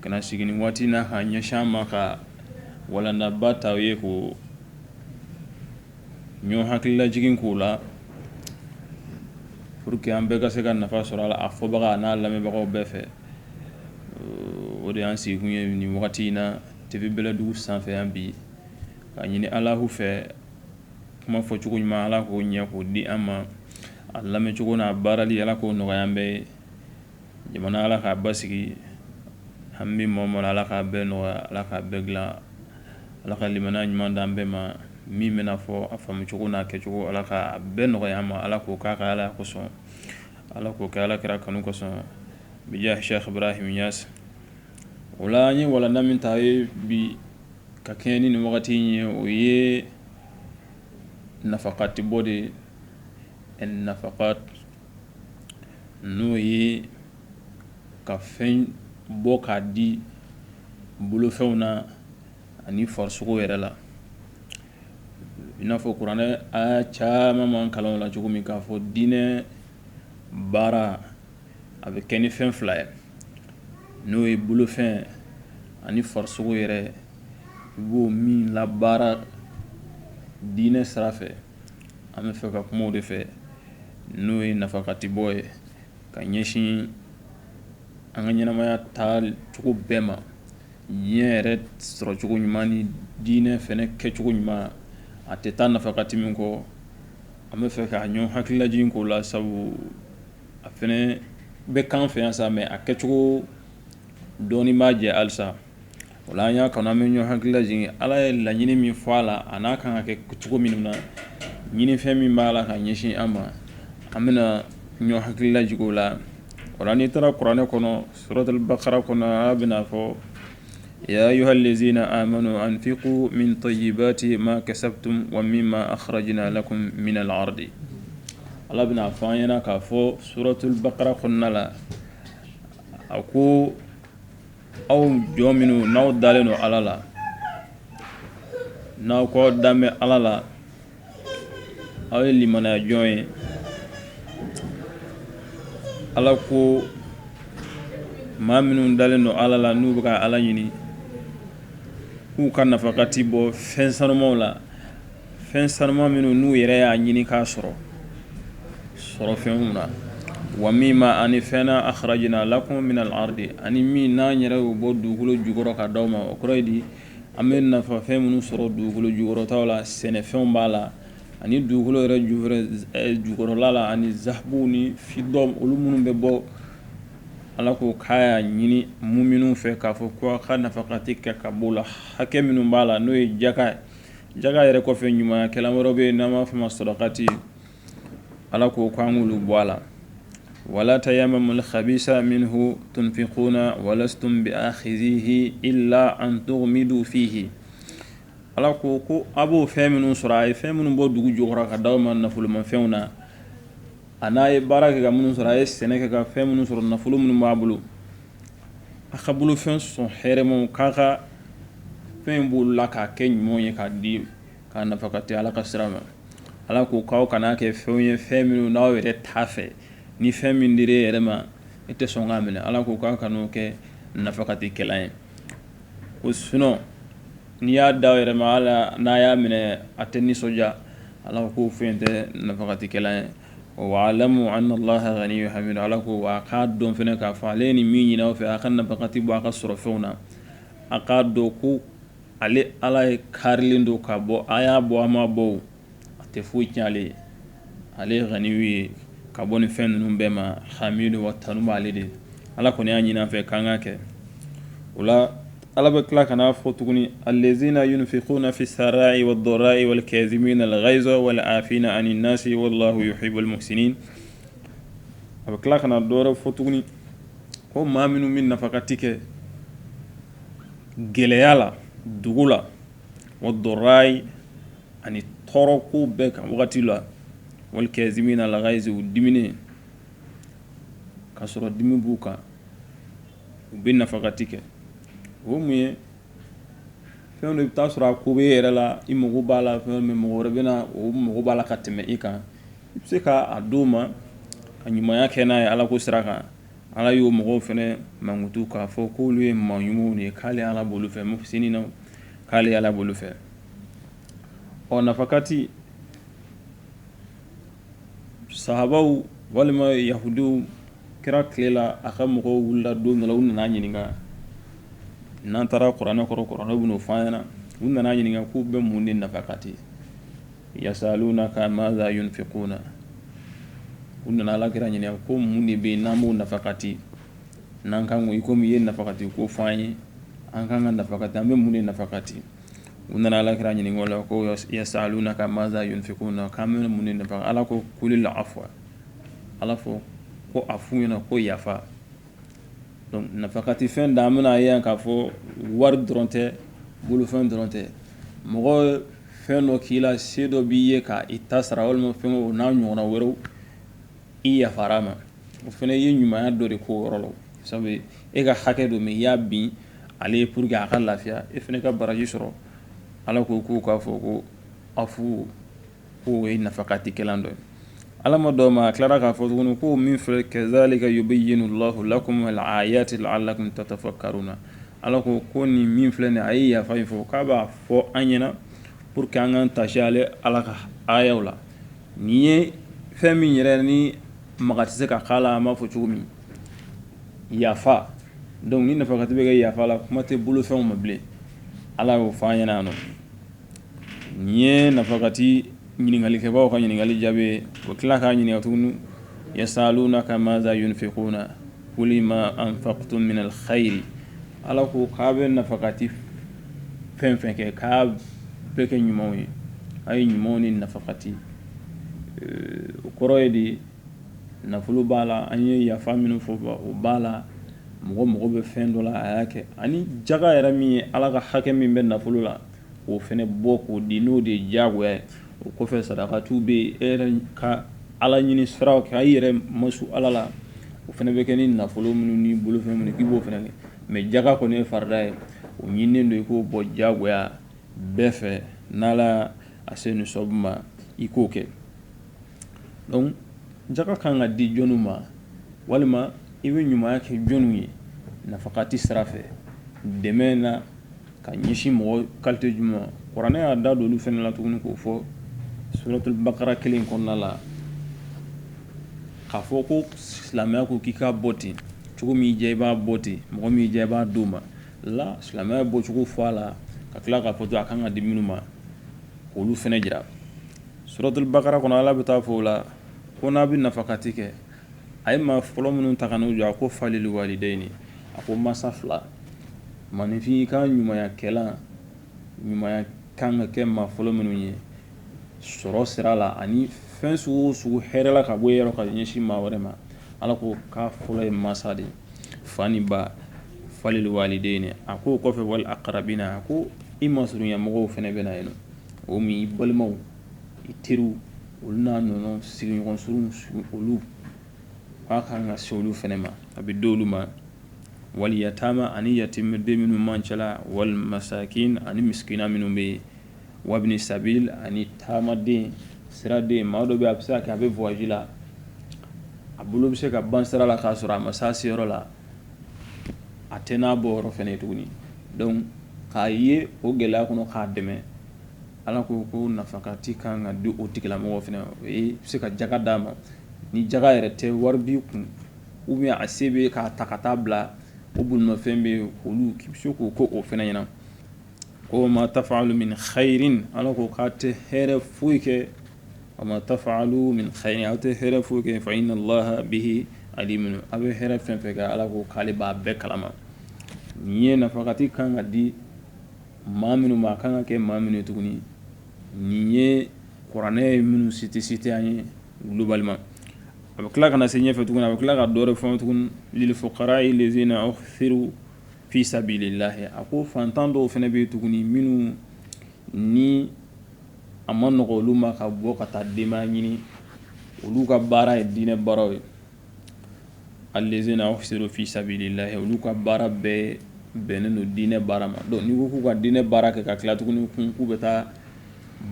ka na sigi nin waati in na ka ɲɛsin aw ma ka walandaba ta aw ye ka ɲɔn hakililajigin k'o la pour que an bɛɛ ka se ka nafa sɔrɔ a la a fɔbaga n'a lamɛnbagaw bɛɛ fɛ o de y'an sigikun ye nin wagati in na TV bɛlɛdugu sanfɛ yan bi ka ɲini ala fɛ kuma fɔcogo ɲuman ala k'o ɲɛ k'o di an ma a lamɛncogo n'a baarali ala k'o nɔgɔya an bɛɛ ye Jamana ala k'a basigi an bɛ mɔ mara ala k'a bɛɛ nɔgɔya ala k'a bɛɛ dilan ala ka limaniya ɲuman di an bɛɛ ma min bɛna fɔ a faamucogo n'a kɛcogo ala ka bɛɛ nɔgɔya an ma ala k'o k'a ka ala kosɔn ala k'o kɛ ala kira kanu kosɔn bija sɛki ibrahim niyasi o la an ye walanda min ta ye bi ka kɛɲɛ ni nin wagati in ye o ye nafakati bɔ de nafa n'o ye ka fɛn bɔ k'a di bolofɛnw na ani farisogo yɛrɛ la i n'a fɔ kuranɛ aya caman man kalan la cogo min k'a fɔ diinɛ baara a bɛ kɛ ni fɛn fila ye n'o ye bolofɛn ani farisogo yɛrɛ i b'o min labaara diinɛ sira An bɛ fɛ ka kuma o de fɛ n'o ye nafakati bɔ ye ka ɲɛsin an ka ɲɛnamaya taacogo bɛɛ ma diɲɛ yɛrɛ sɔrɔcogo ɲuman ni diinɛ fɛnɛ kɛcogo ɲuman a tɛ taa nafakati min kɔ an bɛ fɛ ka ɲɔn hakililajigin k'o la sabu a fɛnɛ bɛ k'an fɛ yan sa mais a kɛcogo dɔɔnin b'a jɛ halisa O la an y'a kanu an bɛ ɲɔgɔn hakililajigin ala ye laɲini min fɔ a la a n'a kan ka kɛ cogo min na ɲinifɛn min b'a la ka ɲɛsin an ma an bɛna ɲɔn hakililajigin o la o la n'i taara kuranɛ kɔnɔ suratul bakara kɔnɔ a bɛna a fɔ ya ayuhal lazina amanu anfiku min tayibati ma kasabtum wa mimma akhrajna lakum minal ardi ala bɛna a fɔ an ɲɛna k'a fɔ suratul bakara kɔnɔna la a ko aw jɔn minnu n'aw dalen don ala la n'aw kɔ dan bɛ ala la aw ye limaniya jɔnw ye ala ko maa minnu dalen don ala la n'u bɛ ka ala ɲini k'u ka nafakati bɔ fɛn sanumanw la fɛn sanuma minnu n'u yɛrɛ y'a ɲini k'a sɔrɔ sɔrɔ fɛnw na wa mimma ani fɛn na akhrajna lakum minal ardi ani min n'an yɛrɛ y'o bɔ dugukolo jukɔrɔ ka d'aw ma o kɔrɔ ye di an bɛ nafa fɛn minnu sɔrɔ dugukolo jukɔrɔta la sɛnɛfɛnw b'a la ani dugukolo yɛrɛ ju jukɔrɔla la ani zahabu ni fidɔ olu minnu bɛ bɔ ala ko k'a y'a ɲini muminun fɛ k'a fɔ ko ka nafakati kɛ ka b'o la hakɛ minnu b'a la n'o ye jaka ye Jaka yɛrɛ kɔfɛ ɲuman kɛlan wɛrɛ bɛ yen n'an b'a f'a ma sadakati ala ko k'an k'olu bɔ a la wala tayammamul habisa minhu tunfikuna wa lastum bi ahizihi illa an tugmidu fihi ala ko ko a b'o fɛn minnu sɔrɔ a ye fɛn minnu bɔ dugu jukɔrɔ ka d'aw ma nafolomafɛnw na a n'a ye baara kɛ ka minnu sɔrɔ a ye sɛnɛ kɛ ka fɛn minnu sɔrɔ nafolo minnu b'a bolo a ka bolofɛn sɔn hɛrɛmaw k'a ka fɛn b'o la k'a kɛ ɲuman ye k'a di k'a nafakati ala ka sira ma ala k ko k'aw kan'a kɛ fɛnw ye fɛn minnu n'aw yɛrɛ t'a fɛ ni fɛn min dir'e yɛrɛ ma e tɛ sɔn k'a minɛ ala ko k'aw kan'o kɛ nafakati kɛlan ye o sugu n'i y'a d'a yɛrɛ ma hali n'a y'a minɛ a tɛ nisɔndiya ala k'o fɛn tɛ nafakati kɛlan ye walamu anna laha ganiyun hamid ala ko a k'a dɔn fɛnɛ k'a fɔ ale ye min ɲini aw fɛ a ka nafakati bɔ a ka sɔrɔ fɛnw na a k'a dɔn ko ale ala ye karilen don ka bɔ a y'a bɔ a ma bɔ a tɛ foyi tiɲɛ ale ye ale ye ganiyu ye ka bɔ nin fɛn ninnu bɛɛ ma hamid wa tanu b'ale de ala kɔni y'a ɲini an fɛ k'an k'a kɛ o la Ala bɛ tila ka n'a fɔ tuguni allazina yunfikuna fi sarai wa darai wal kazimina l gayza wal afina ani nasi wallahu yuhibul muhsinina a bɛ tila ka na dɔwɛrɛ fɔ tuguni ko maa minnu bɛ nafakati kɛ gɛlɛya la dugu la wa darai ani tɔɔrɔ ko bɛɛ ka wagati la wal kazimina l gayza u diminen ka sɔrɔ dimi b'u kan u bɛ nafakati kɛ o mun ye fɛn dɔ i bɛ taa sɔrɔ a ko bɛ e yɛrɛ la i mako b'a la fɛn min mɔgɔ wɛrɛ bɛ na o mako b'a la ka tɛmɛ i kan i bɛ se k'a d'o ma ka ɲumanya kɛ n'a ye ala ko sira kan ala y'o mɔgɔw fɛnɛ mankutu k'a fɔ k'olu ye maa ɲumanw de ye k'ale ala b'olu fɛ muhsinina k'ale ala b'olu fɛ ɔ nafakati sahabaw walima yahudiw kira tile la a ka mɔgɔw wulila don dɔ la u nana ɲininka n'an taara kuranɛ kɔrɔ kuranɛ bɛn'o fɔ an ɲɛna u nana ɲininka k'u bɛ mun de nafakati yasalunaka maza yunfikuna u nana ala kira ɲininka ko mun de bɛ yen n'an b'o nafakati n'an kan ko i komi i ye nafakati ko fɔ an ye an kan ka nafakati an bɛ mun de nafakati U nana ala kira ɲininka o la ko yasalunaka maza yunfiquna k'an bɛ mun de nafakati ala ko kulil afwa ala fɔ ko a f'u ɲɛna ko yafa nafakati fɛn da an bɛna a ye yan k'a fɔ wari dɔrɔn tɛ bolofɛn dɔrɔn tɛ mɔgɔ fɛn dɔ k'i la se dɔ b'i ye k'i ta sara walima fɛn o n'a ɲɔgɔnna wɛrɛw I yafara a ma o fana ye ɲumanya dɔ de k'o yɔrɔ la sabu e ka hakɛ don min i y'a bin ale ye pour que a ka lafiya e fana ka baraji sɔrɔ ala ko k'u k'a fɔ ko afu k'o ye nafakati kɛlan dɔ ye ala ma dɔw ma a tilara k'a fɔ tuguni ko min filɛ kazalika yubayyinu Allahu lakum al-ayati la'allakum tatafakkaruna ala ko ko nin min filɛ nin a ye yafa in fɔ k'a b'a fɔ an ɲɛna pour que an k'an taasi ale ala ka ayaw la Nin ye fɛn min yɛrɛ ni maga tɛ se ka k'a la an b'a fɔ cogo min yafa donc ni nafakati bɛ kɛ yafa la kuma tɛ bolofɛnw ma bilen ala y'o fɔ an ɲɛna nɔ nin ye nafakati ɲininkalikɛbaa ka ɲininkali jaabi o tila k'a ɲininka tuguni yasalunaka maza yunfiquna qul ma anfaqtum min khayr ala ko k'a bɛ nafakati fɛn fɛn kɛ k'a bɛɛ kɛ ɲumanw ye a ye ɲumanw ni nafakati o kɔrɔ ye de nafolo b'a la an ye yafa minnu fɔ o b'a la mɔgɔ bɛ fɛn dɔ la a y'a kɛ ani jaga yɛrɛ min ye ala ka hakɛ min bɛ nafolo la o fana bɔ k'o di n'o de ye jagoya ye o kɔfɛ sadakatu bɛ yen e yɛrɛ ka ala ɲini siraw kɛ a yɛrɛ masu ala la o fana bɛ kɛ ni nafolo minnu ni bolofɛn minnu k'i b'o fana kɛ mɛ jaga kɔni ye farida ye o ɲininnen don i k'o bɔ jagoya bɛɛ fɛ n'ala a se nisabu ma i k'o kɛ donc jaga kan ka di jɔnniw ma walima i bɛ ɲumanya kɛ jɔnniw ye nafakati sira fɛ dɛmɛ na ka ɲɛsin mɔgɔ kalite jumɛn kuranɛ y'a da don olu fana la tuguni k'o fɔ suratul bakara kelen kɔnɔna la k'a fɔ ko silamɛya ko k'i k'a bɔ ten cogo min i diya i b'a bɔ ten mɔgɔ min i diya i b'a d'o ma la silamɛya bɔcogo fɔ a la ka tila k'a fɔ to a kan ka di minnu ma k'olu fana jira suratul bakara kɔnɔ ala bɛ taa fɔ o la ko n'a bɛ nafakati kɛ a ye maa fɔlɔ minnu ta ka n'u jɔ a ko falil walidayni a ko mansa fila maninfin i ka ɲumanya kɛlan ɲumanya kan ka kɛ maa fɔlɔ minnu ye sɔrɔ sira la ani fɛn sugu o sugu hɛrɛ la ka bɔ e yɔrɔ ka ɲɛsin maa wɛrɛ ma ala ko k'a fɔlɔ ye mansa de fa ni ba falil walidayni a k'o kɔfɛ wal aqrabina a ko i masurunya mɔgɔw fana bɛ na yen o min balimaw i teriw olu n'a nɔnɔ sigiɲɔgɔn surun olu k'a ka kan ka se olu fana ma a bɛ don olu ma wal yatama ani yatimɛden minnu b'an cɛla wal masakin ani misikina minnu bɛ yen wabini sabil ani taamaden siraden maa dɔ bɛ a bɛ se ka kɛ a bɛ voyage la a bolo bɛ se ka ban sira la k'a sɔrɔ a ma se a seyɔrɔ la a tɛ n'a bɔ yɔrɔ fana ye tuguni donc k'a ye o gɛlɛya kɔnɔ k'a dɛmɛ Ala ko ko nafakati ka kan ka di o tigilamɔgɔ fana o bɛ se ka jaka d'a ma ni jaka yɛrɛ tɛ wari b'i kun ou bien a se bɛ k'a ta ka taa bila o bolimafɛn bɛ yen olu se k'o ko o fana ɲɛna ko ma tafalu min khairin ala ko k'a tɛ hɛrɛ foyi kɛ wa ma tafalu min khairin aw tɛ hɛrɛ foyi kɛ fa inna laha bihi alim aw bɛ hɛrɛ fɛn o fɛn kɛ ala ko k'ale b'a bɛɛ kalama nin ye nafakati ka kan ka di maa minnu ma a kan ka kɛ maa minnu ye tuguni nin ye kuranɛ ye minnu cité cité an ye globalement a bɛ tila ka na se ɲɛfɛ tuguni a bɛ tila ka dɔ wɛrɛ fɔ tuguni lil fuqara'i allazina uhsiru fi sabilillahi a ko fantan dɔw fana bɛ yen tuguni minnu ni a man nɔgɔ olu ma ka bɔ ka taa dayirimɛ ɲini olu ka baara ye diinɛ baaraw ye allazina uhsiru fi sabilillahi olu ka baara bɛɛ bɛnnen don diinɛ baara ma donc ni ko k'u ka diinɛ baara kɛ ka tila tuguni kun k'u bɛ taa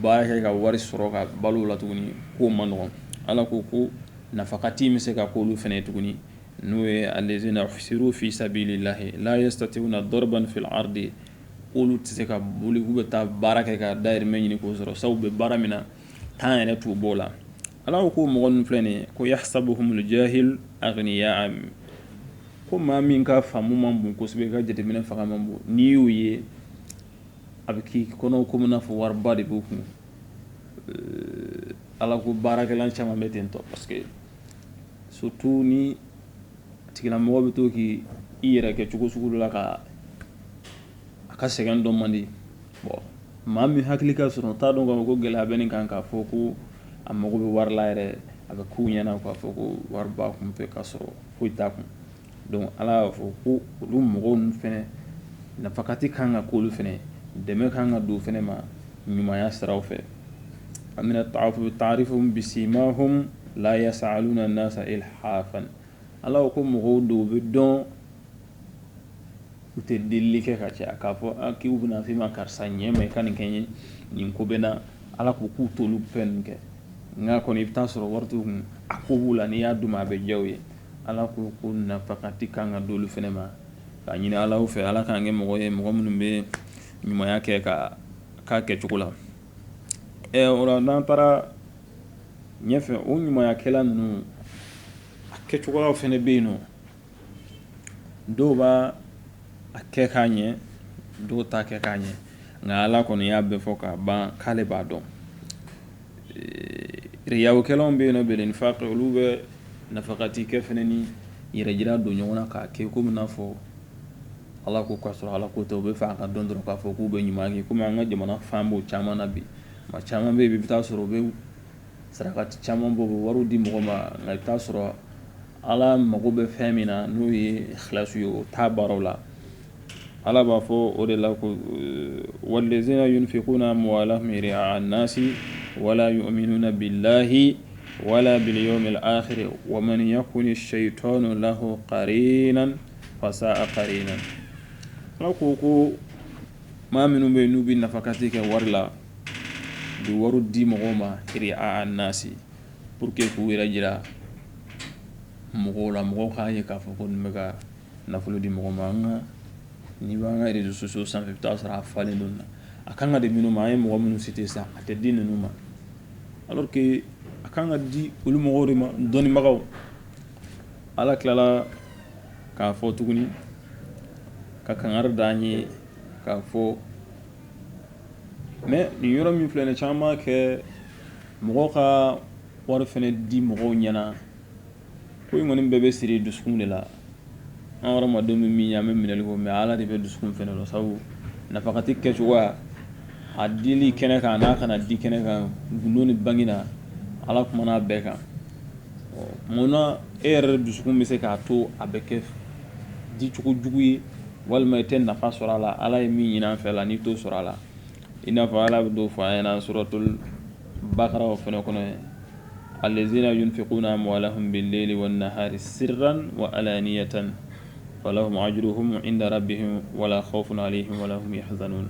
baara kɛ ka wari sɔrɔ ka balo la tuguni k'o man nɔgɔ ala ko ko nafakati bɛ se ka k'olu fana tuguni n'o ye allazina uhsiru fi sabilillahi la yastati'una darban fil ardi olu tɛ se ka boli k'u bɛ taa baara kɛ ka dayirimɛ ɲini k'o sɔrɔ sabu u bɛ baara min na temps yɛrɛ t'u b'o la Ala ko ko mɔgɔ ninnu filɛ nin ye ko yahsabuhumul jahil aghniya min ko maa min ka faamu man bon kosɛbɛ a ka jateminɛ fanga man bon n'i y'o ye a bɛ k'i kɔnɔ komi n'a fɔ wariba de b'u kun ala ko baarakɛla caman bɛ ten tɔ parce que surtout ni tigilamɔgɔ bɛ to k' i yɛrɛ kɛ cogo sugu dɔ la k'a ka sɛgɛn dɔn man di Bon maa min hakili ka surun t'a dɔn k'a fɔ ko gɛlɛya bɛ nin kan k'a fɔ ko a mago bɛ wari la yɛrɛ a bɛ k'u ɲɛna k'a fɔ ko wari b'a kun fɛ k'a sɔrɔ foyi t'a kun donc ala y'a fɔ ko olu mɔgɔw ninnu fana nafakati kan ka k'olu fana dɛmɛ kan ka don fana ma ɲumanya sira fɛ mina ta'afufi ta'rifuhum bisimahum la yas'aluna nasa ilhafan ala ko mɔgɔw dɔw bɛ dɔn U tɛ deli kɛ ka caya k'a fɔ k'u bɛna f' i ma karisa n dɛmɛ i ka nin kɛ n ye nin ko bɛ n na ala ko k'u t'olu fɛn ninnu kɛ nka kɔni i bɛ taa sɔrɔ wari t'u kun a ko b'u la n'i y'a d'u ma a bɛ diya u ye ala ko ko nafakati kan ka d' olu fana ma k'a ɲinin ala fɛ ala k'an kɛ mɔgɔ ye mɔgɔ minnu bɛ ɲumanya kɛ k'a k'a kɛcogo la ɛ o n'an taara ɲɛfɛ o ɲumankɛla ninnu a kɛcogo fana bɛ yen nɔ dɔw b'a a kɛ k'a ɲɛ dɔw t'a kɛ k'a ɲɛ nka ala kɔni y'a bɛɛ fɔ k'a ban k'ale b'a dɔn riyawukɛlaw bɛ yen bɛ nin fa olu bɛ nafakati kɛ fana ni yɛrɛjira don ɲɔgɔn na k'a kɛ kɔmi n'a fɔ ala ko k'a sɔrɔ ala ko tɛ u bɛ fɛ a ka dɔn dɔrɔn k'a fɔ k'u bɛ ɲuman kɛ kɔmi an ka jamana fan b'o caman na bi maa caman bɛ yen i bɛ taa sɔrɔ u bɛ saraka caman bɔ u bɛ wari di mɔgɔ ma nka i bɛ taa sɔrɔ ala mago bɛ fɛn min na n'o ye ikhlasi ye o t'a baaraw la ala b'a fɔ o de la ko wallazina yunfikuna amwalahum ri'a an-nasi wala yuminuna billahi wala bil yawmil akhiri wa man yakuni shaytanu lahu karinan fasa'a karinan ala ko ko maa minnu bɛ yen n'u bɛ nafakati kɛ wari la u bɛ wari di mɔgɔw ma ri'a an-nasi pour que k'u yɛrɛ jira mɔgɔw la mɔgɔw k'a ye k'a fɔ k'u bɛ ka nafolo di mɔgɔ ma an ka n'i b'an ka réseaux sociaux sanfɛ i bɛ taa sɔrɔ a falen don na a kan ka di minnu ma an ye mɔgɔ minnu cité sisan a tɛ di ninnu ma alors que a kan ka di olu mɔgɔw de ma dɔnnibagaw ala tilala k'a fɔ tuguni ka kangari d' an ye k'a fɔ Mais nin yɔrɔ min filɛ nin caman kɛ mɔgɔ ka wari fana di mɔgɔw ɲɛna ko in kɔni bɛɛ bɛ siri dusukun de la an hadamadenw bɛ min ye an bɛ minɛli k'o mais ala de bɛ dusukun fana la sabu nafakati kɛcogoya a dili kɛnɛ kan n'a kana di kɛnɛ kan gundo ni bangi na ala kumana a bɛɛ kan munna e yɛrɛ de dusukun bɛ se k'a to a bɛ kɛ dicogo jugu ye walima i tɛ nafa sɔrɔ a la ala ye min ɲini an fɛ la n'i t'o sɔrɔ a la i n'a fɔ ala bɛ dɔ fɔ an ɲɛna suratul bakara o fana kɔnɔ ye allazina yunfikuna amwalahum bil-layli wan-nahari sirran wa alaniyatan falahum ajruhum inda rabbihim wala khawfun alayhim wala hum yahzanun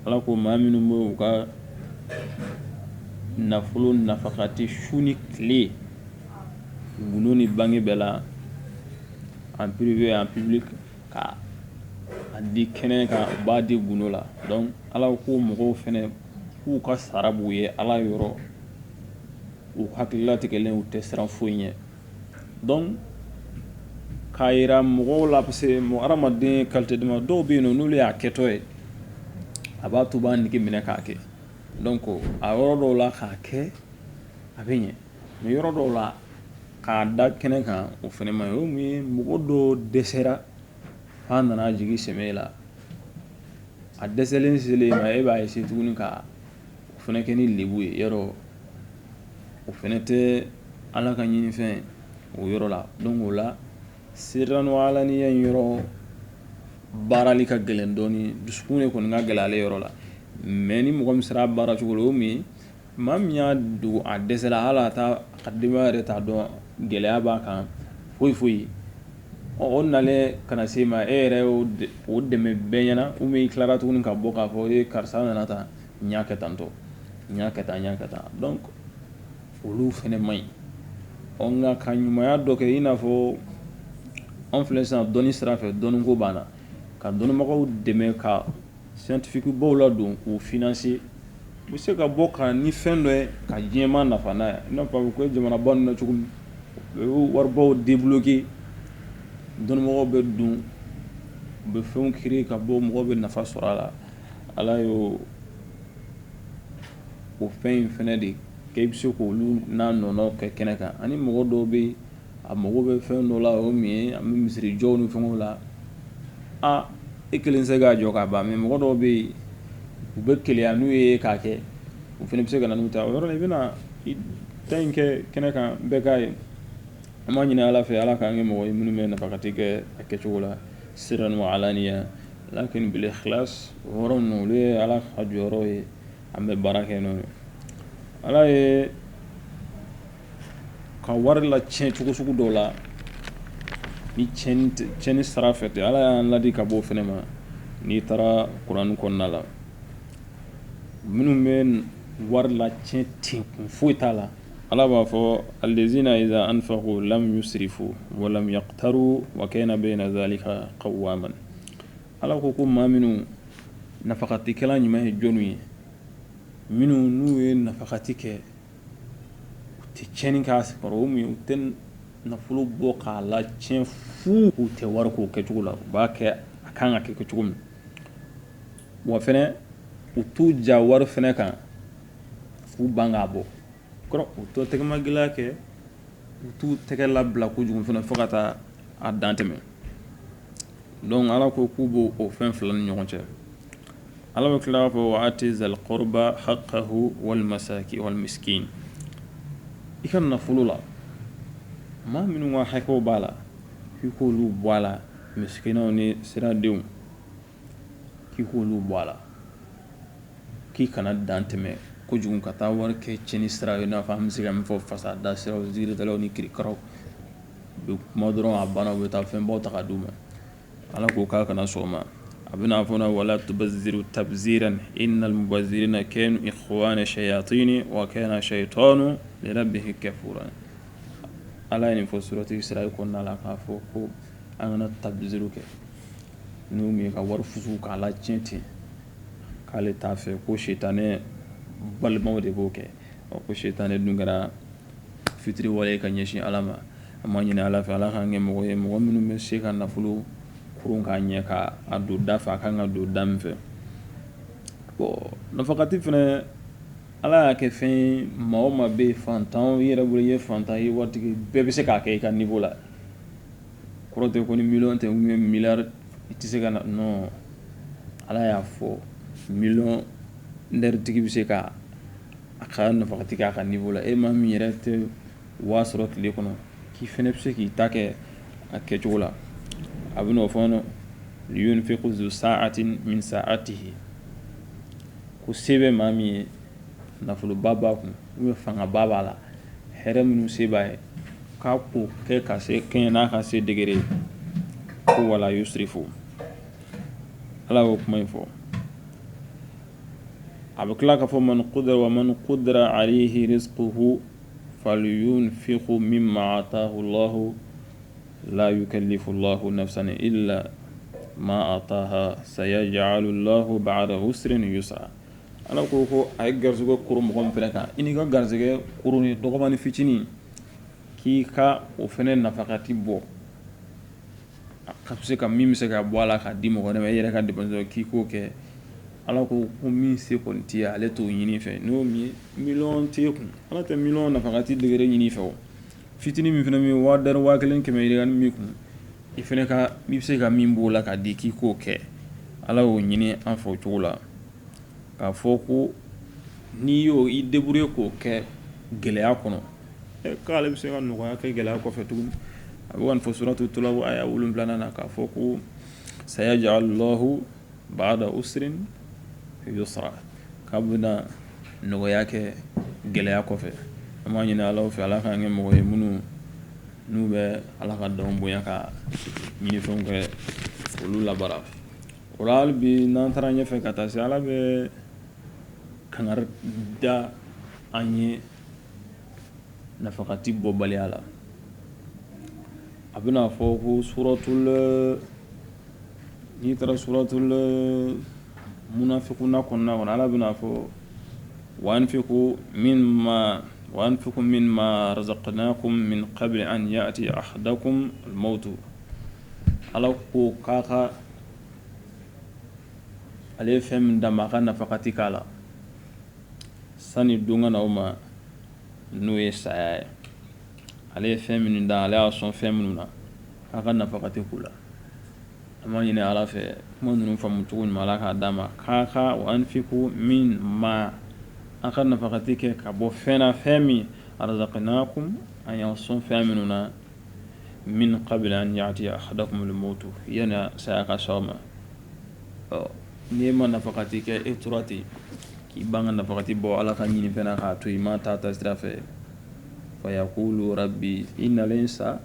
Ala ko maa minnu bɛ u ka nafolo nafakati su ni tile gundo ni bange bɛɛ la en privé en public ka a di kɛnɛ kan u b'a di gundo la donc ala ko mɔgɔw fana k'u ka sara b'u ye ala yɔrɔ u hakililatigɛlen u tɛ siran foyi ɲɛ k'a yira mɔgɔw la parce que mɔgɔ hadamaden kalite dama dɔw bɛ yen nɔ n'olu y'a kɛtɔ ye a b'a to u b'a nege minɛ k'a kɛ donc a yɔrɔ dɔw la k'a kɛ a bɛ ɲɛ mais yɔrɔ dɔw la k'a da kɛnɛ kan o fɛnɛ man ɲi o mun ye mɔgɔ dɔ dɛsɛra f'a nana jigi sɛmɛ la a dɛsɛlen selen ma e b'a essayer tuguni ka o fɛnɛ kɛ ni lebu ye yɔrɔ o fɛnɛ tɛ ala ka ɲinifɛn o yɔrɔ la donc o la sirran wa alaniya in yɔrɔ baarali ka gɛlɛn dɔɔni dusukun de kɔni ka gɛlɛn ale yɔrɔ la mais ni mɔgɔ min sera a baara cogo la o mun ye maa min y'a dogo a dɛsɛla hali a ta denbaya yɛrɛ t'a dɔn gɛlɛya b'a kan foyi foyi ye Ɔ o nalen ka na se ma e yɛrɛ o dɛmɛ bɛɛ ɲɛna ou bien i tilara tuguni ka bɔ k'a fɔ e karisa nana tan n y'a kɛ tan tɔ n y'a kɛ tan n y'a kɛ tan donc olu fɛnɛ man ɲi ɔ nka ka ɲumanya dɔ kɛ i n'a fɔ an filɛ sisan dɔnni sira fɛ dɔnniko b'an na ka dɔnnibagaw dɛmɛ ka scientifiques-baw ladon k'u financer u bɛ se ka bɔ ka na ni fɛn dɔ ye ka diɲɛmaa nafa n'a ye i n'a fɔ a bɛ kɛ jamanaba ninnu na cogo min u bɛ waribaw débloquer dɔnnibagaw bɛ don u bɛ fɛnw créer ka bɔ mɔgɔw bɛ nafa sɔrɔ a la Ala y'o fɛn in fɛnɛ de kɛ i bɛ se k'olu n'a nɔnɔ kɛ kɛnɛ kan ani mɔgɔ dɔw bɛ yen a mago bɛ fɛn dɔ la o min ye an bɛ misiri jɔw ni fɛnw la aa e kelen tɛ se k'a jɔ k'a ban mais mɔgɔ dɔw bɛ yen u bɛ keleya n'u ye k'a kɛ u fɛnɛ bɛ se ka na n'u ta o yɔrɔ la i bɛna ta in kɛ kɛnɛ kan bɛɛ k'a ye an b'a ɲini ala fɛ ala k'an kɛ mɔgɔ ye minnu bɛ nafakati kɛ a kɛcogo la sirran wa alaniya lakin bil ikhlas o yɔrɔ ninnu olu ye ala ka jɔyɔrɔ ye an bɛ baara kɛ n'o ye ala ye ka wari latiɲɛ cogo sugu dɔw la ni tiɲɛni sira fɛ tɛ ala y'an ladi ka bɔ o fɛnɛ ma n'i taara kuranɛ kɔnɔna la minnu bɛ wari latiɲɛ ten kun foyi t'a la ala b'a fɔ allazina iza anfaqu lam yusrifu wa lam yaqturu wa kana bayna zalika qawama ala ko ko maa minnu nafakatikɛla ɲuman ye jɔnw ye minnu n'u ye nafakati kɛ u tɛ tiɲɛni k'a sigiyɔrɔ o mun ye u tɛ nafolo bɔ k'a latiɲɛ fu u tɛ wari k'o kɛcogo la u b'a kɛ a kan ka kɛ kɛ cogo min wa fɛnɛ u t'u ja wari fɛnɛ kan f'u ban k'a bɔ u t'o tɛgɛma gɛlɛya kɛ u t'u tɛgɛ labila kojugu fɛnɛ fo ka taa a dan tɛmɛ donc ala ko k'u b'o o fɛn fila ni ɲɔgɔn cɛ ala bɛ tila k'a fɔ wa ati zal qurba haqqahu wal masaki wal miskin i ka nafolo la maa minnu ka hakɛw b'a la i k'olu bɔ a la misikinaw ni siradenw k'i k'olu bɔ a la k'i kana dan tɛmɛ kojugu ka taa wari kɛ cɛnni sira ye i n'a fɔ an bɛ se ka min fɔ fasada siraw ziiridalaw ni kirikaraw u bɛ kuma dɔrɔn a banna u bɛ taa fɛnbaw ta ka d'u ma ala ko k'a kana sɔn o ma a bɛna n'a fɔ wala tubazziru tabziran innal mubazzirina kanu ikhwana shayatini wa kana shaytanu li rabbihi kafuran ala ye nin fɔ surati israa kɔnɔna la k'a fɔ ko an kana tabziru kɛ N'o min ye ka wari fusu k'a latiɲɛ ten k'ale t'a fɛ ko sitanɛ balimaw de b'o kɛ ko sitanɛ dun kɛra fitiriwale ye ka ɲɛsin ala ma an b'a ɲini ala fɛ ala k'an kɛ mɔgɔ ye mɔgɔ minnu bɛ se ka nafolo kuru k'a ɲɛ k'a don da fɛ a ka kan ka don da min fɛ nafakati fɛnɛ ala y'a kɛ fɛn ye maa o maa bɛ yen fantan i yɛrɛ bolo i ye fantan ye waritigi bɛɛ bɛ se k'a kɛ i ka niveau la kɔrɔ tɛ ko ni miliyɔn tɛ ou bien miliyari i tɛ se ka na non ala y'a fɔ miliyɔnɛritigi bɛ se ka a ka nafakati kɛ a ka niveau la e maa min yɛrɛ tɛ waa sɔrɔ tile kɔnɔ k'i fɛnɛ bɛ se k'i ta kɛ a kɛcogo la a bɛ n'o fɔ liyunfiqu zu sa'atin min sa'atihi ko se bɛ maa min ye nafoloba b'a kun ou bien fangaba b'a la hɛrɛ minnu se b'a ye k'a ko kɛ ka se kɛɲɛ n'a ka se degré ye ko wala yusrifu ala y'o kuma in fɔ a bɛ tila k'a fɔ man qudi wa man qudira alayhi rizquhu falyunfiqu mimma ataahu llahu la yukallifu llahu nafsan illa ma ataaha sayaj'alu llahu ba'da usrin yusra Ala ko ko a ye garisɛgɛ kuru mɔgɔ min fɛnɛ kan i n'i ka garisɛgɛ kurunin dɔgɔmani fitinin k'i ka o fɛnɛ nafakati bɔ a ka se ka min bɛ se ka bɔ a la k'a di mɔgɔ wɛrɛ ma i yɛrɛ ka dépense k'i k'o kɛ ala ko ko min se kɔni t'i ye ale t'o ɲini i fɛ n'o miliyɔn t'e kun ala tɛ miliyɔn nafakati degré ɲini i fɛ o fitinin min fana bɛ yen waa dɔɔni waa kelen kɛmɛ yirika min kun i fana ka i bɛ se ka min b'o la k'a di k'i k'o kɛ ala y'o ɲini an fɛ o cogo la k'a fɔ ko n'i y'o i débrouiller k'o kɛ gɛlɛya kɔnɔ k'ale bɛ se ka nɔgɔya kɛ gɛlɛya kɔfɛ tuguni a bɛ ka nin fɔ suratu talaq aya wolonwula na k'a fɔ ko sayaj'alu llahu ba'da usrin yusra k'a bɛna nɔgɔya kɛ gɛlɛya kɔfɛ an b'a ɲini ala fɛ ala k'an kɛ mɔgɔ ye minnu n'u bɛ ala ka danw bonya ka ɲinifɛnw kɛ olu labaara o la hali bi n'an taara ɲɛfɛ ka taa se ala bɛ kangari da an ye nafakati bɔbaliya la a bɛna fɔ ko suratul N'i taara suratul munafikuna kɔnɔna kɔnɔ ala bɛn'a fɔ wa anfiqu min ma razaqnakum min qabli an ya'tiya ahadakumul mawtu ala ko k'a ka ale ye fɛn min d'a ma a ka nafakati k'a la sani don ka n'aw ma n'o ye saya ye ale ye fɛn minnu da ale y'a sɔn fɛn minnu na a ka nafakati k'u la An b'a ɲini ala fɛ kuma ninnu faamu cogo ɲuman ala k'a d'a ma k'a ka wa anfiqu min ma an ka nafakati kɛ ka bɔ fɛn na fɛn min razaqnakum an y'an sɔn fɛn minnu na min qabli an ya'tiya ahadakumul mawtu yani saya ka s'aw ma ɔ n'i ma nafakati kɛ e tora ten k'i ban ka nafakati bɔ ala ka ɲinifɛn na k'a to i ma taa taasira fɛ fa yaqula rabbi i nalen sa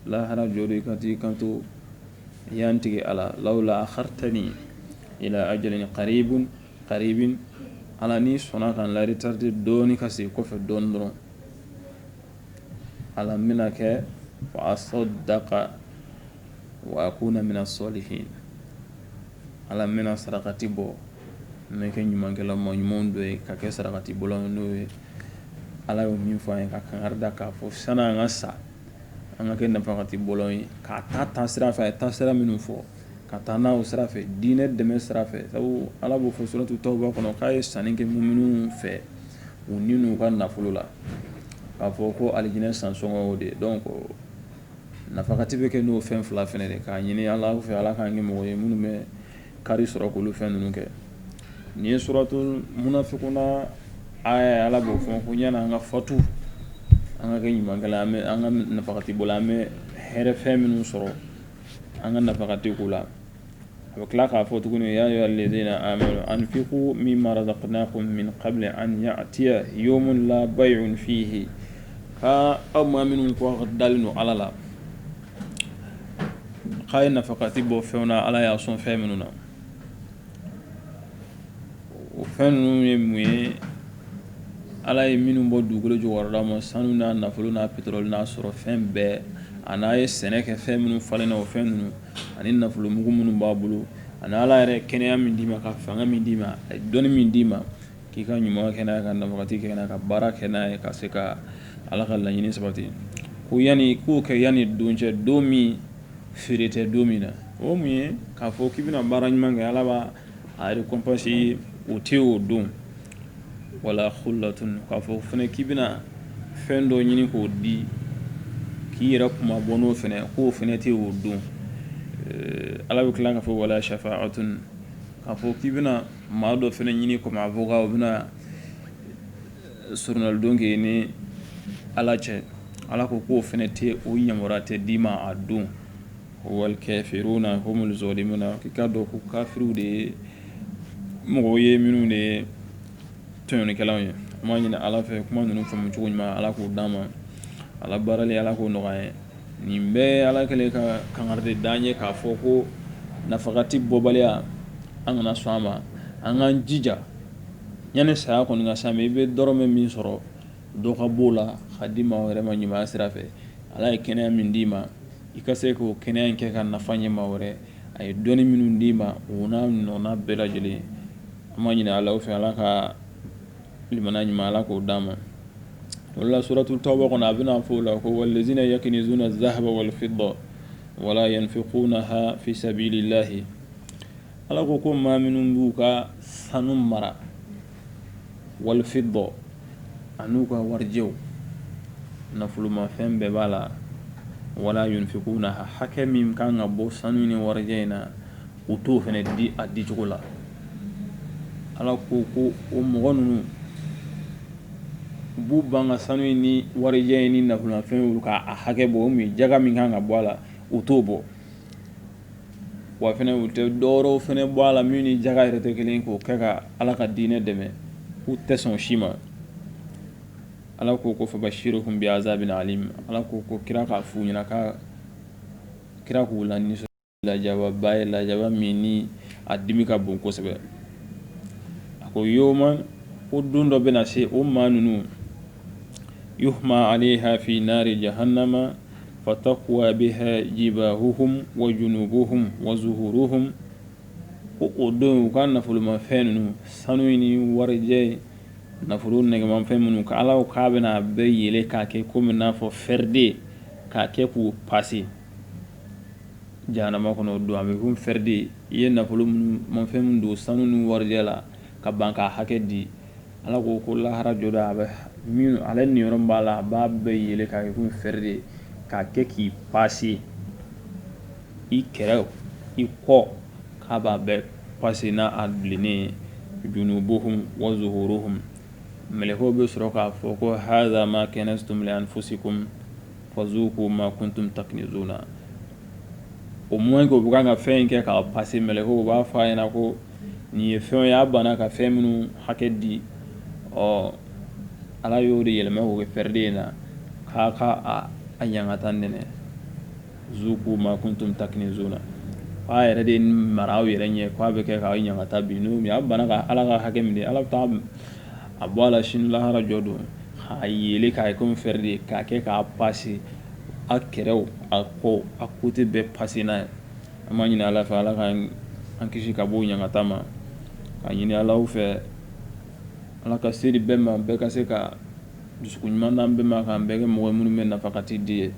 lahara jɔdon i ka t'i kanto ya n tigi ala lawla akhartani ila ajalin qaribun qaribin ala n'i sɔnna ka n laretarde dɔɔni ka se kɔfɛ dɔɔni dɔrɔn ala n bɛna kɛ fa asaddaqa wa akuna mina salihin ala n bɛna sarakati bɔ n bɛ kɛ ɲumankɛla maa ɲumanw dɔ ye ka kɛ sarakati bɔlaw n'o ye ala y'o min fɔ an ye ka kangari da k'a fɔ san'an ka sa an ka kɛ nafakati bɔla ye ka taa taasira fɛ a ye taasira minnu fɔ ka taa n'a o sira fɛ diinɛ dɛmɛ sira fɛ sabu ala b'o fɔ suratu tawba kɔnɔ k'a ye sanni kɛ muminuw fɛ u ni n'u ka nafolo la k'a fɔ ko alijinɛ sansɔngɔ o de donc nafakati bɛ kɛ n'o fɛn fila fana de k'a ɲini ala fɛ ala k'an kɛ mɔgɔ ye minnu bɛ kari sɔrɔ k'olu fɛn ninnu kɛ nin ye suratul munafikuna ala b'o fɔ ko yani an ka fatu an ka kɛ ɲumankɛla an ka nafakati bɔ an bɛ hɛrɛ fɛn minnu sɔrɔ an ka nafakati k'o la a bɛ tila k'a fɔ tuguni ya ayyuhal ladhina amanu anfiqu min ma razaqnakum min qabli an ya'tiya yawmun la bay'un fihi aa aw maa minnu ko dalen don ala la k'a ye nafakati bɔ fɛnw na ala y'a sɔn fɛn minnu na o fɛn ninnu ye mun ye ala ye minnu bɔ dugukolo jukɔrɔla ma sanu n'a nafolo n'a peteroli n'a sɔrɔ fɛn bɛɛ ani a ye sɛnɛ kɛ fɛn minnu falen na o fɛn ninnu ani nafolo mugu minnu b'a bolo ani ala yɛrɛ kɛnɛya min d'i ma ka fanga min d'i ma a ye dɔnni min d'i ma K'i ka ɲuman kɛ n'a ye, ka nafakati kɛ n'a ye, ka baara kɛ n'a ye, ka se ka Ala ka laɲini sabati. Ko yani i k'o kɛ yani don cɛ, don min feere tɛ don min na. O mun ye? K'a fɔ k'i bɛna baara ɲuman kɛ, Ala b'a a récompense i ye, o tɛ o don. Wala khullatun k'a fɔ fɛnɛ k'i bɛna fɛn dɔ ɲini k'o di, k'i yɛrɛ kunmabɔ n'o fɛnɛ ye, k'o fɛnɛ tɛ o don. Ala bɛ tila k'a fɔ wala shafa'atun k'a fɔ k'i bɛna Maa dɔ fɛnɛ ɲini kɔmi avocat o bɛna soronalidon kɛ i ni ala cɛ ala ko k'o fɛnɛ tɛ o yamaruya tɛ d'i ma a don ko wal kafiruna humul zalimuna k'i k'a dɔn ko kafiriw de ye mɔgɔw ye minnu de ye tɔɲɔnikɛlaw ye an b'a ɲini ala fɛ kuma ninnu faamumu cogo ɲuman ala k'o d'an ma a labaarali ala k'o nɔgɔya ye nin bɛɛ ala kɛlen ka kangari de d'an ye k'a fɔ ko nafakati bɔbaliya an kana sɔn a ma an k'an jija yanni saya kɔni ka s'an ma i bɛ dɔrɔmɛ min sɔrɔ dɔ ka b'o la ka di maa wɛrɛ ma ɲuman sira fɛ ala ye kɛnɛya min d'i ma i ka se k'o kɛnɛya in kɛ ka nafa ɲɛ maa wɛrɛ a ye dɔnni minnu d'i ma o n'a ɲɔgɔnna bɛɛ lajɛlen an b'a ɲini ala fɛ ala ka limaniya ɲuman ala k'o d'an ma wala suratu tawba kɔnɔ a bɛna fɔ o la ko wallazina yakinizuna zahaba walfidda wala yunfiqunaha fi sabilillahi ala ko ko maa minnu b'u ka sanu mara walfidda an'u ka warijɛw nafolomafɛn bɛɛ b'a la wala yunfiqunaha hakɛ min kan ka bɔ sanu ni warijɛ in na u t'o fɛnɛ di a dicogo la ala ko ko o mɔgɔ ninnu u b'u ban ka sanu in ni warijɛ in ni nafolomafɛn olu ka a hakɛ bɔ o min jaga min kan ka bɔ a la u t'o bɔ wa fɛnɛ u tɛ dɔwɛrɛw fɛnɛ bɔ a la min ni jaga yɛrɛ tɛ kelen k'o kɛ ka ala ka diinɛ dɛmɛ u tɛ sɔn si ma ala ko ko fabashiruhum bi azabin alim ala ko ko kira k'a f'u ɲɛna ka kira k'u la nisɔn lajaba ye lajaba min ni a dimi ka bon kosɛbɛ a ko yawma o don dɔ bɛna se o maa ninnu yuhma alayha fi nari jahannama fatakwa biha jibahuhum wa junubuhum wa zuhuruhum ko o don u ka nafolomafɛn ninnu sanu in ni warijɛ in nafolo nɛgɛmanfɛn ninnu ka ala k'a bɛna a bɛɛ yeele k'a kɛ kɔmi n'a fɔ fɛri de k'a kɛ k'u pase jahanama kɔnɔ o don a bɛ komi fɛrɛden i ye nafolo minnu mafɛn minnu don sanu ni warijɛ la ka ban k'a hakɛ di ala ko ko lahara jɔda a bɛ min ale niyɔrɔ b'a la a b'a bɛɛ yɛlɛ k'a kɛ komi fɛrɛden k'a kɛ k'i paase i kɛrɛ i kɔ k'a b'a bɛɛ paase n'a a bilennen ye junubuhum wa zuhuruhum mɛlɛkɛw bɛ sɔrɔ k'a fɔ ko hadha ma kanaztum li anfusikum fazuqu ma kuntum taknizuna o mɔman k'u bɛ kan ka fɛn in kɛ k'a pase mɛlɛkɛw b'a fɔ a ɲɛna ko nin ye fɛn ye a banna ka fɛn minnu hakɛ di ɔ ala y'o de yɛlɛma k'o kɛ fɛrɛden in na k'a ka a ɲangata nɛnɛ zuqu ma kuntum taknizuna a yɛrɛ de mara aw yɛrɛ ɲɛ k'a bɛ kɛ k'aw ɲangata bi n'o y'a banna ka ala ka hakɛ min di ala bɛ taa a bɔ a la sini lahara jɔ don a yelen k'a ye komi fɛrɛden k'a kɛ k'a pase a kɛrɛ a kɔ a kote bɛɛ pase n'a ye an b'a ɲini ala fɛ ala ka an kisi ka bɔ ɲangata ma k'a ɲini ala fɛ ala ka se di bɛɛ ma bɛɛ ka se ka dusukun ɲuman d'an bɛɛ ma k'an bɛɛ kɛ mɔgɔ minnu bɛ nafakati di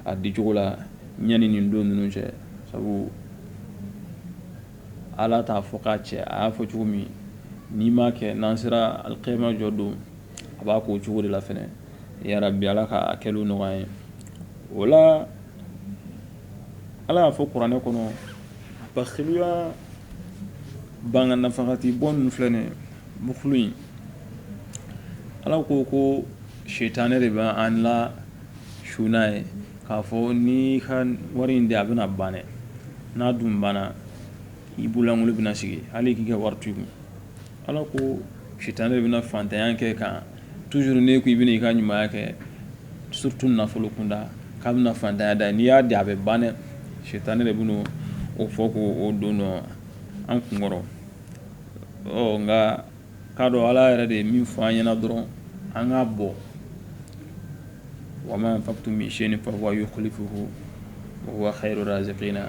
a dicogo la ɲani nin don ninnu cɛ sabu Ala t'a fɔ k'a cɛ a y'a fɔ cogo min n'i m'a kɛ n'an sera alikiyama jɔ don a b'a k'o cogo de la fana yarabi ala ka a kɛliw nɔgɔya ye o la ala y'a fɔ kuranɛ kɔnɔ bakiluya ban ka nafakati bɔ ninnu filɛ nin bukulu in ala ko ko sitanɛ de bɛ an la su n'a ye k'a fɔ n'i ka wari in di a bɛna ban n'a dun banna i bololankolon bɛna sigi hali k'i ka wari to i kun ala ko sitanɛ de bɛna fantanya kɛ kan tuzuru n'i ko i bɛna i ka ɲuman kɛ surutu nafolo kunda k'a bɛna fantanya da n'i y'a di a bɛ ban dɛ sitanɛ de bɛ o fɔ k'o don don an kun kɔrɔ ɔ nka k'a dɔn ala yɛrɛ de ye min fɔ an ɲɛna dɔrɔn an k'a bɔ wa ma anfaqtum min shay'in fahuwa yukhlifuhu wa huwa khayru raziqina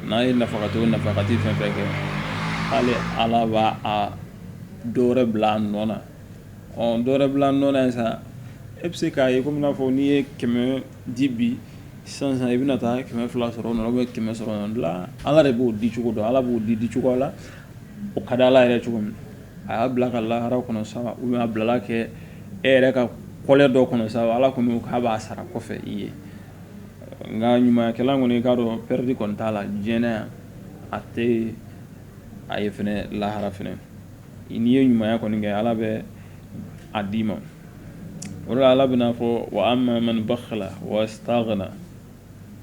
n'a ye nafakati fɛn fɛn kɛ hali ala b'a dɔ wɛrɛ bila a nɔ na ɔ dɔ wɛrɛ bila a nɔ na yen sa e bɛ se k'a ye komi n'a fɔ n'i ye kɛmɛ di bi sisan i bɛna taa kɛmɛ fila sɔrɔ bɛ kɛmɛ sɔrɔ ala de b'o dicogo dɔn ala b'o di di cogo la o ka di ala yɛrɛ cogo min a y'a bila ka lahara kɔnɔ sa a bilala kɛ e yɛrɛ ka kɔlɛ dɔ kɔnɔ sa ala kɔni k'a b'a sara kɔfɛ i ye nka ɲumanyakɛla kɔni i k'a dɔn pɛrɛdi kɔni t'a la diɲɛ yan a tɛ a ye fana lahara fana n'i ye ɲumanya kɔni kɛ ala bɛ a d'i ma o la ala bɛna a fɔ wa amma man bakhila wastagna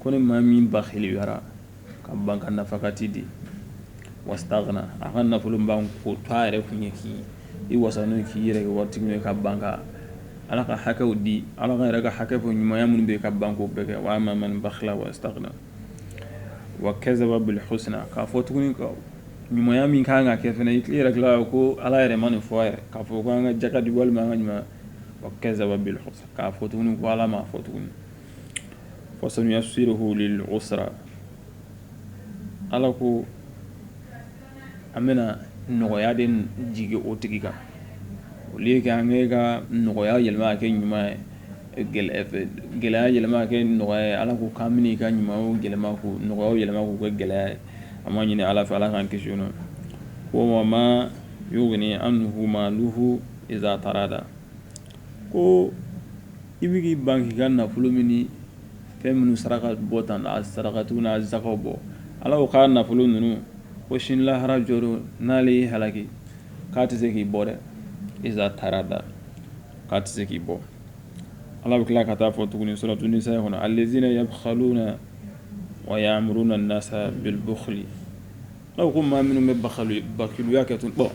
ko ni maa min bakhiliyara ka ban ka nafakati di wastagna a ka nafolo ban ko to a yɛrɛ kun ye k'i wasa n'o k'i yɛrɛ kɛ waritigi ye ka ban ka ala ka hakɛw di ala ka yɛrɛ ka hakɛ fɔ ɲumanya minnu bɛ ka ban k'o bɛɛ kɛ wa amma man bakhila wastagna wa kazaba bil husna k'a fɔ tuguni ɲumanya min ka kan ka kɛ fana i tila yɛrɛ tila ko ala yɛrɛ ma nin fɔ yɛrɛ k'a fɔ ko an ka jaka di walima an ka ɲumanya wa kazaba k'a fɔ tuguni ko ala ma fɔ tuguni fasanuyassiruhu lil usra ala ko an bɛna nɔgɔya de jigin o tigi kan olu ye kɛ an bɛ ka nɔgɔya yɛlɛma ka kɛ ɲuman ye gɛlɛya yɛlɛma ka kɛ nɔgɔya ye ala ko k'a ka ɲuman yɛlɛma nɔgɔya yɛlɛma k'u kɛ gɛlɛya ye an b'a ɲini ala fɛ ala k'an kisi n'o ko wa ma yugni anhu maluhu iza tarada ko I bɛ k'i ban k'i ka nafolo min ni fɛn minnu saraka bɔ tan a sarakatiw n'a zakaw bɔ ala ko k'a nafolo ninnu ko sini lahara jɔ don n'ale y'i halaki k'a tɛ se k'i bɔ dɛ iza tarada k'a tɛ se k'i bɔ ala bɛ tila ka taa fɔ tuguni suratu nisa kɔnɔ alezina yabkhaluna wa ya'muruna nasa bil bukhli aw ko maa minnu bɛ bakhiluya kɛ tun bɔn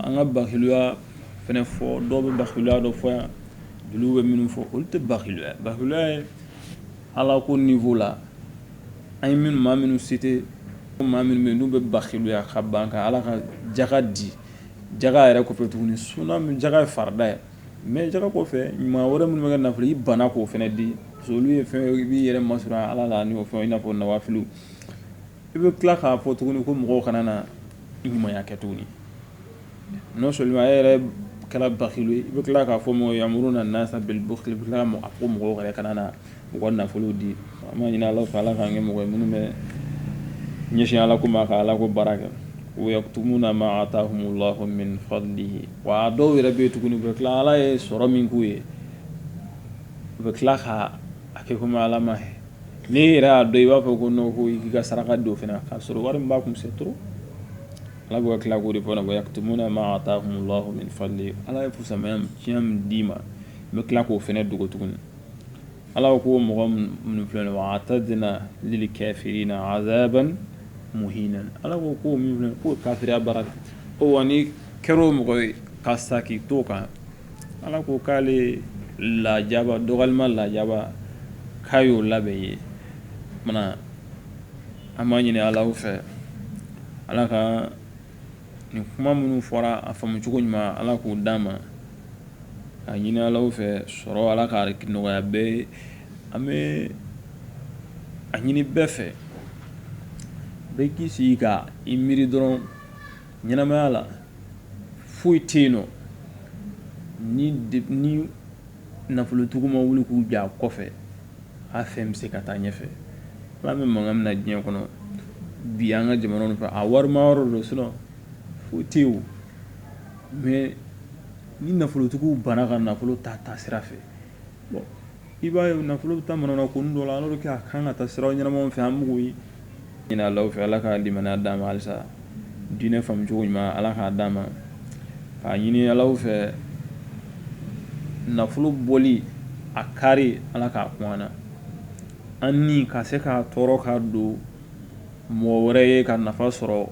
an ka bakhiluya fana fɔ dɔw bɛ bakhiluya dɔ fɔ yan jeliw bɛ minnu fɔ olu tɛ bakhiluya bakhiluya ye ala ko niveau la an ye minnu maa minnu cité maa minnu bɛ yen n'u bɛ bakhiluya ka ban ka ala ka jaka di jaka yɛrɛ kɔfɛ tuguni suna min jaka ye farida ye mɛ jaka kɔfɛ maa wɛrɛ minnu bɛ kɛ nafolo i bana k'o fana di olu ye fɛn i b'i yɛrɛ masurun ala la ni fɛn i n'a fɔ nawafilu i bɛ tila k'a fɔ tuguni ko mɔgɔw kana na ɲumanya kɛ tuguni non seulement e yɛrɛ kɛra bakhilu ye i bɛ tila k'a fɔ mɔgɔ ya'muruna nasa bil bukhli i bɛ tila k'a fɔ ko mɔgɔw yɛrɛ kana na u ka nafolo di an b'a ɲini ala fɛ ala k'an kɛ mɔgɔ ye minnu bɛ ɲɛsin ala ko ma ka ala ko baara kɛ wa yaktumuna ma atahumu lahu min fadlihi wa dɔw yɛrɛ bɛ yen tuguni u bɛ tila ala ye sɔrɔ min k'u ye u bɛ tila ka a kɛ komi ala ma ye Ni yɛrɛ y'a dɔn i b'a fɔ ko n' ko i ka saraka don fana k'a sɔrɔ wari b'a kun c'est trop ala bɛ tila k'o de fana wa yaktumuna ma atahumu allahu min fadlihi ala ye fusamanciya min d'i ma n bɛ tila k'o fana dogo tuguni ala ko mɔgɔ minnu filɛ wa a'tadna lil kafirina azaban muhinan ala ko ko k'o kafiriya baara ko wa n'i kɛra o mɔgɔ ye ka sa k'i to kan Ala ko k'ale lajaba dɔgɔlima lajaba k'a y'o labɛn ye an b'a ɲini ala fɛ ala ka nin kuma minnu fɔra a faamucogo ɲuman ala k'o d'an ma k'a ɲini ala fɛ sɔrɔ ala k'a nɔgɔya bɛɛ ye an bɛ a ɲini bɛɛ fɛ bɛɛ k'i sigi ka i miiri dɔrɔn Ɲɛnamaya la, foyi tɛ yen non ni nafolotigiw ma wuli k'u jɔ a kɔfɛ, a fɛn bɛ se ka taa ɲɛfɛ. An bɛ mankan min na diɲɛ kɔnɔ bi an ka jamana ninnu fɛ, a warima yɔrɔ don sinon foyi tɛ yen o. Mais ni nafolotigiw banna ka nafolo taa taasira fɛ i b'a ye nafolo bɛ taa manana ko dɔ la alors que a kan ka taa sira ɲɛnama fɛ an b'o de ɲini ala fɛ ala ka limaniya d'an ma halisa diinɛ faamu cogo ɲuman ala k'a d'an ma k'a ɲini ala fɛ nafolo bɔli a kari ala k'a kun an na an ni ka se k'a tɔɔrɔ ka don mɔgɔ wɛrɛ ye ka nafa sɔrɔ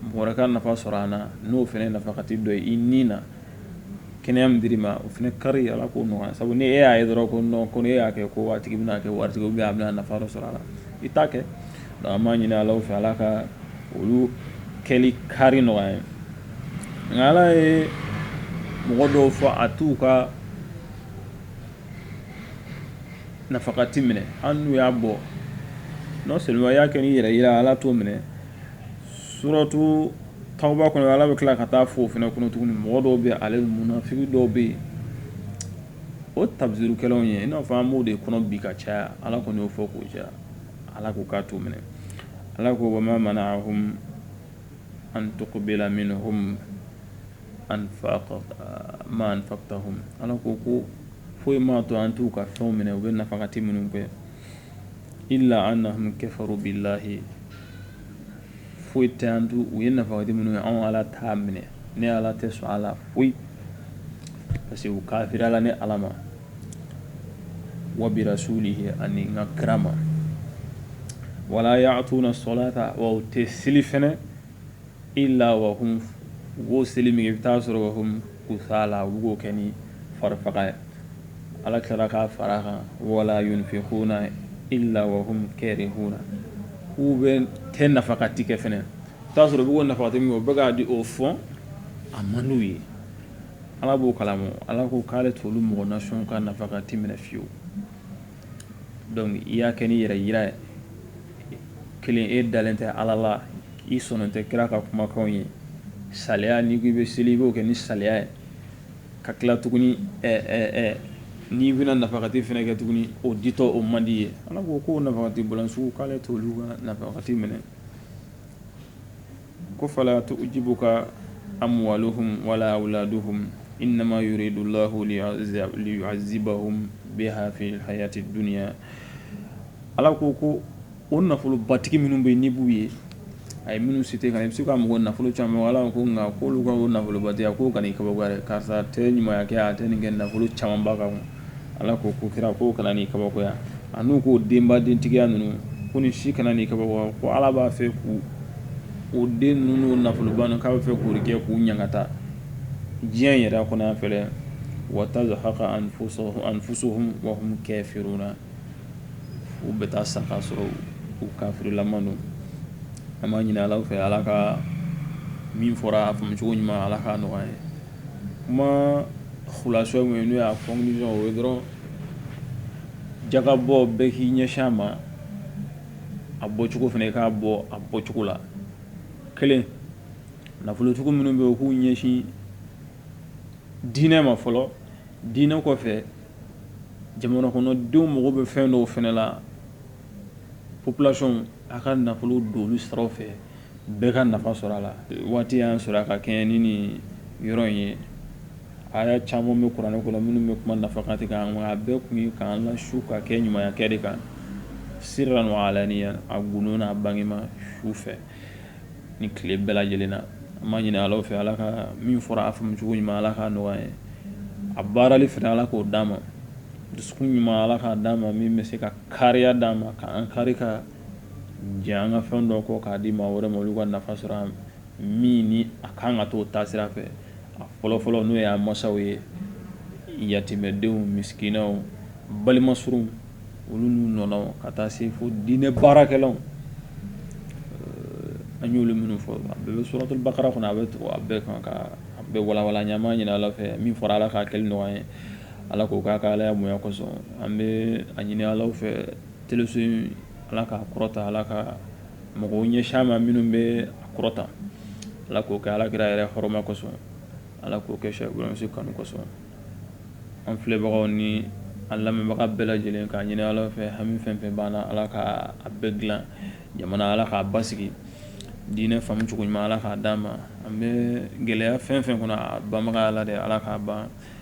mɔgɔ wɛrɛ ka nafa sɔrɔ an na n'o fana nafakati dɔ ye i ni na kɛnɛya min dir'i ma o fana kari ala k'o nɔgɔya sabu ni e y'a ye dɔrɔn ko non ko n'e y'a kɛ ko a tigi bɛ kɛ waritigi ou bien a bɛ nafa dɔ sɔrɔ a la i t'a kɛ an b'a ɲini ala fɛ ala ka olu kɛli kari nɔgɔya ye nka ala ye mɔgɔ dɔw fɔ a t'u ka nafakati minɛ hali n'u y'a bɔ non seulement y'a kɛ ni yɛrɛyira ala t'o minɛ suratu Tawba kɔnɔ ala bɛ tila ka taa fɔ o fana kɔnɔ tuguni mɔgɔ dɔw bɛ ale munafiki dɔw bɛ yen o tabzirukɛlaw ye i n'a fɔ an b'o de kɔnɔ bi ka caya ala kɔni y'o fɔ k'o caya ala ko k'a t'o minɛ ala ko wa ma mana'ahum an tuqbala minhum nafaqatuhum ala ko ko foyi ma to an t'u ka fɛnw minɛ u bɛ nafakati minnu kɛ illa annahum kafaru billahi foyi t'a to u ye nafakati minnu ye anw ala t'a minɛ ne ala tɛ sɔn a la foyi parce que u kafiriyala ne ala ma wa bi rasulihi ani n ka kira ma wala ya'tuna salata wa u tɛ seli fɛnɛ illa wa hum u b'o seli min kɛ i bɛ t'a sɔrɔ wa hum Kusala u bɛ k'o kɛ ni farifaga ye. Ala tilara k'a far'a kan wala yunfiquna illa wa hum karihuna k'u bɛ tɛ nafakati kɛ fɛnɛ. I t'a sɔrɔ u bɛ k'o nafakati min kɛ, u bɛ k'a di o fɔ a man d'u ye. Ala b'o kalama o. Ala ko k'ale t'olu mɔgɔ nasiyɔn ka nafakati minɛ fiyewu. donc i y'a kɛ ni yɛrɛyira ye kelen e dalen tɛ ala la i sɔnnen tɛ kira ka kumakanw ye saliya n'i k'i bɛ seli i b'o kɛ ni saliya ye ka tila tuguni n'i bɛna nafagati fɛnɛ kɛ tuguni o ditɔ o man d'i ye ala ko k'o nafagati bɔla sugu k'ale t'olu ka nafagati minɛ ko fala tujibuka amwaluhum wala awladuhum innama yuridu llahu liyuazibahum biha fi lhayati dunia ala ko ko o nafolobatigi minnu bɛ n'i b'u ye a ye minnu site kan i bɛ se ka mɔgɔ nafolo caman ala ko nka k'olu ka o nafolobatigiya k'o kana i kabakoya karisa tɛ ɲumanya kɛ a tɛ nin kɛ nafolo caman b'a kan Ala ko ko kira k'o kana n'i kabakoya an'u ka denba dentigiya ninnu ko nin si kana n'i kabakoya ala b'a fɛ ko o den ninnu nafoloba ninnu k'a b'a fɛ k'o de kɛ k'u ɲankata diɲɛ in yɛrɛ kɔnɔ fɔlɔ wa tazhaqa anfusuhum wa hum kafiruna u bɛ taa sa k'a sɔrɔ u kafirilama don an b'a ɲini ala fɛ ala ka min fɔra a faamucogo ɲuman ala k'a nɔgɔya an ye kuma kulasa min ye n'o y'a conclusion ye dɔrɔn jaka bɔ bɛɛ k'i ɲɛsin a ma a bɔcogo fana i k'a bɔ a bɔcogo la kelen nafolotigiw minnu bɛ yen u k'u ɲɛsin diinɛ ma fɔlɔ diinɛ kɔfɛ jamana kɔnɔdenw mago bɛ fɛn dɔw fana la population a ka nafolo don olu sira fɛ bɛɛ ka nafa sɔrɔ a la waati y'an sɔrɔ an ka kɛɲɛ ni nin yɔrɔ in ye aya caman bɛ kuranɛ kɔnɔ minnu bɛ kuma nafakati kan a bɛɛ kun ye k'an lasu ka kɛ ɲumanya kɛ de kan sirran wa alaniyan a gundo n'a bangema su fɛ ni tile bɛɛ lajɛlen na an b'a ɲini ala fɛ ala ka min fɔra a faamucogo ɲuman ala k'a nɔgɔya an ye a baarali fɛnɛ ala k'o d'an ma dusu ɲuman ala k'a d'an ma min bɛ se ka kariya d'an ma k'an kari ka Jɛn an ka fɛn dɔ kɔ k'a di maa wɛrɛ ma olu ka nafa sɔrɔ an min ni a ka kan ka to o ta sira fɛ a fɔlɔfɔlɔ n'o y'a masaw ye yatimɛdenw misikinaw balima surunw olu n'u ɲɔgɔnna ka taa se fo diinɛ baarakɛlaw an y'olu minnu fɔ a bɛ suratul baqara kɔnɔ a bɛ to a bɛɛ kan ka bɛɛ walawala an b'a ɲini ala fɛ min fɔra ala k'a kɛli nɔgɔya an ye ala k'o k'a ka ala bonya kosɔn an bɛ a ɲini ala fɛ Teleso ala k'a kɔrɔta ala ka mɔgɔ ɲɛsin a ma minnu bɛ kɔrɔta ala k'o kɛ ala kira yɛrɛ hɔrɔma kosɔn ala k'o kɛ sɛsi kanu kosɔn an filɛbagaw ni an lamɛnbaga bɛɛ lajɛlen ka ɲini ala fɛ hami fɛn fɛn b'an na ala k'a bɛɛ dilan jamana ala k'a basigi diinɛ faamu cogo ɲuman ala k'a d'an ma an bɛ gɛlɛya fɛn fɛn kɔnɔ a banbaga ye ala de ala k'a ban